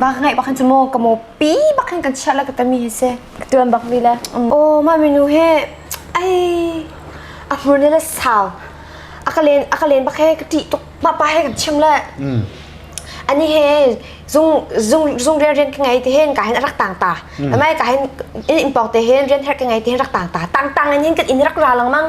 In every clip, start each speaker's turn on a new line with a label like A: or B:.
A: bak ngai bak khan chu maw ka mo pi bak khan kan chia la ka tami he se tuan bak mi le o ma minu he ai a hmur ne la sao akalen akalen bak he ka ti tuk pa pa he kan chim le ani he zung zung zung rian rian ka ngai te hen ka hen rak tang ta amai ka hen in pok te hen rian her ka ngai te hen rak tang ta tang tang ani kan in rak ra lang mang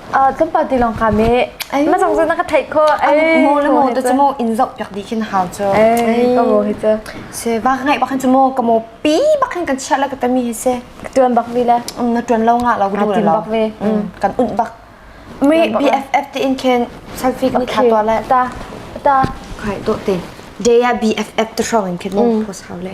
A: tlumpa tilawng ka me ma zong zong na ka theih ko ai mo le mo te chu mo in zok piak di khin hau cho ai ka mo hi chu se ba ngai ba khan chu mo ka mo pi ba khan kan chia la ka tami he se tuan bak vi le na tuan lo nga la gu tin bak ve kan un bak mi BFF te in khin selfie ka tha to la ta ta khai to te day BFF te strong in khin mo post hau le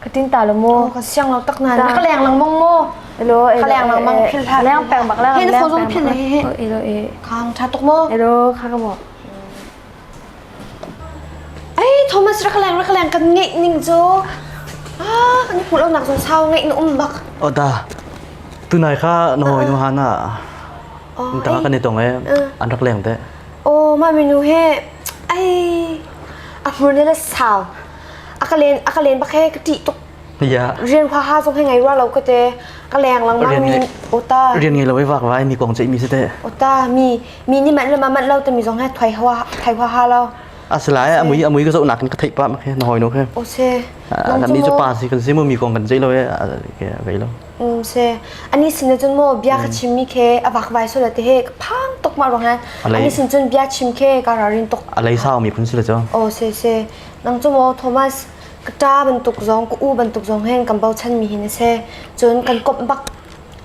A: Katin ta lo mu. Ka siang lo tak na. Na ka leng lang mong mu. Elo elo. Ka leng lang mang phil ha. Leng peng bak leng. Hin so zum phin he. Elo e. Khang tha tuk mu. Elo khang mo. Ai Thomas ra ka leng ra ka leng kan nge ning jo. Ah kan hmu lo nak zo sao nge na um bak. Oda. Tu nai kha na hoi nu hana. Ntaka kan itong e. Anrak leng te. Oh mami nu he. Ai. Amur nila sao. a ka len a ka len bak he ka ṭih tuk Iya. rian huaha zong he ngei rua lo ka te ka leng langmang Rian mi ngeih- o ta Rian ngei lo i vak vai mi kong ceih mi si teh. o ta mi mi ni manh le ma manh lo te mi zong he thoi hua thoi huaha lo Asalai amui amui ka zohnak in ka theih pa mak he na hoi no khe. o se Ah, Lam ni cu pa si kan si mu mi kong kan ceih lo e kai lo. Mm, se ani sin cun mo bia ka chim mi ke a vak vai so da te he phang tok ma rong han Alai- ani sin cun bia chim ke ka ra rin tok A lei sau mi phun si le cho. o se se Nang cu maw Thomas, ka ṭa bantuk zong, ka u bantuk zong hin kan bochanmi hi na si. Cun kan komh bak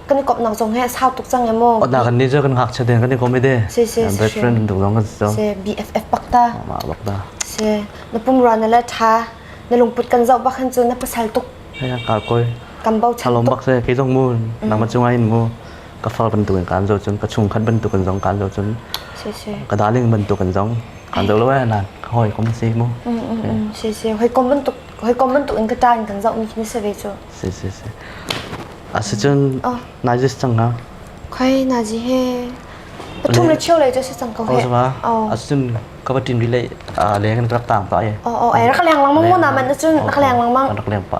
A: kan i komhnak zong hi a sau tuk cang e maw? Awtnak an ni cu kan ngakchia den kan i komh i de. Si, si, si, Best si. friend bantuk zong kan si cang. Si, BFF bak ta. Mah bak da. Si, na pumrua na la ṭha, na lungput kan zoh bak hin cun na pasal tuk, Hei an kar koi. kan bochan Thalawm tuk. bak se, kei zong mu, nangmah cung ah hin mu. ka far bantuk in kaan zoh cun ka chungkhat bantuk in zong kaan zoh cun ka darling bantuk in zong kaan zoh lo eh nan ka hoi kom si mu si si hoi kom bantuk hoi kom bantuk in ka ta in kan zoh mi khi se ve chu si si si a si cun nai jis chang ha khai na ji he pathum le chiu le just chang ko he a sun ka batin relay a leng rak tang pa ye o o ai rak lang mang mo na man chun rak lang mang rak lang pa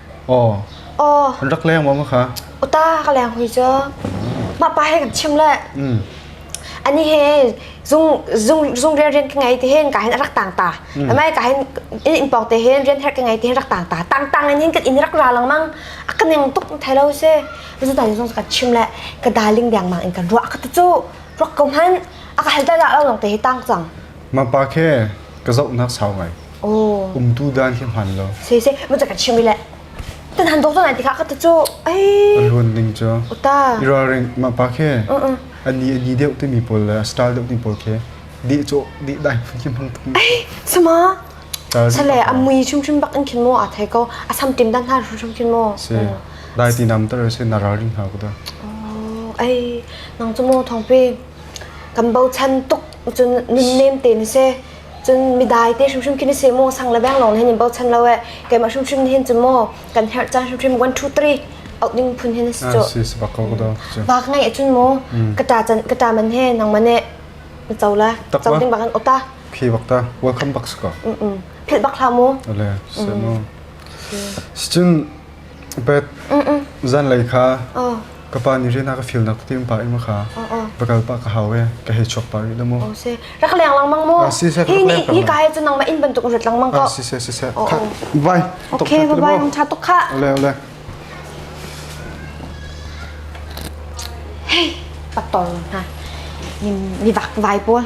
A: Aw, An rak leng maw kha? uta ka leng hui cu. Mah pa he kan chim le. Ani he zung zung zung rian rian ka ngei ti hin ka hin rak tang ta. Amai ka hin in pok te hin rian her ka ngei ti hin rak tang ta. Tang tang in hin kan in rak ra lang mang. A ka ning tuk thai lo se. Zu ta zung kan chim le ka darling deng mang in kan ruah ka tu cu. Ruak ko hman. A ka hal da da lo long te hi tang cang. Mapa khe ka zohnak sau ngai. Oh. Umtu dan khi hman lo. Sei sei, mun cakka chimi le. Tan han dok ngai tikha ka tu cu. Ai. Ruan ning cu. Uta. Ira ring mapa khe. Ani ani deuh ti mi pol le style deuh ti pol khe. Di cho di dai phun kim hang tuk. Ai. Suma. Sale amui chung chung bak in khin mo a thai ko. Asam tim dan ha chung chung mo. Se. Dai ti nam tar se nara ring ha ku da. Oh. Ai. Nang cu mo thong pe. Kan bau chan tuk cun nimnem te ni se cun midai te hrimhrim khi ni se maw sang le bang lawng hin in bochan lo e keimah hrimhrim hin cun maw kan herh chan hrimhrim 1 2 3 out ding phun hin si cho bak ngai cun mo kata chan kata man he nang mane chawla chaw ding bakan ota khi bakta welcome box ko mm mm phil bak la mu ole seno cun Beth, zanlei kha ka pa nih rian a ka fialnak tete pa ing kha va kal pah ka hau e ka hei chuak pah rih na mu. Ose rak leng lengmang mu. Hi ni hi ka he cun nangma in bantuk urat lengmang ko. Si se si se. Vai. Okay, vai um tha tuk kha. Ole ole. Hey, patong ha. Ni ni vak vai pawl.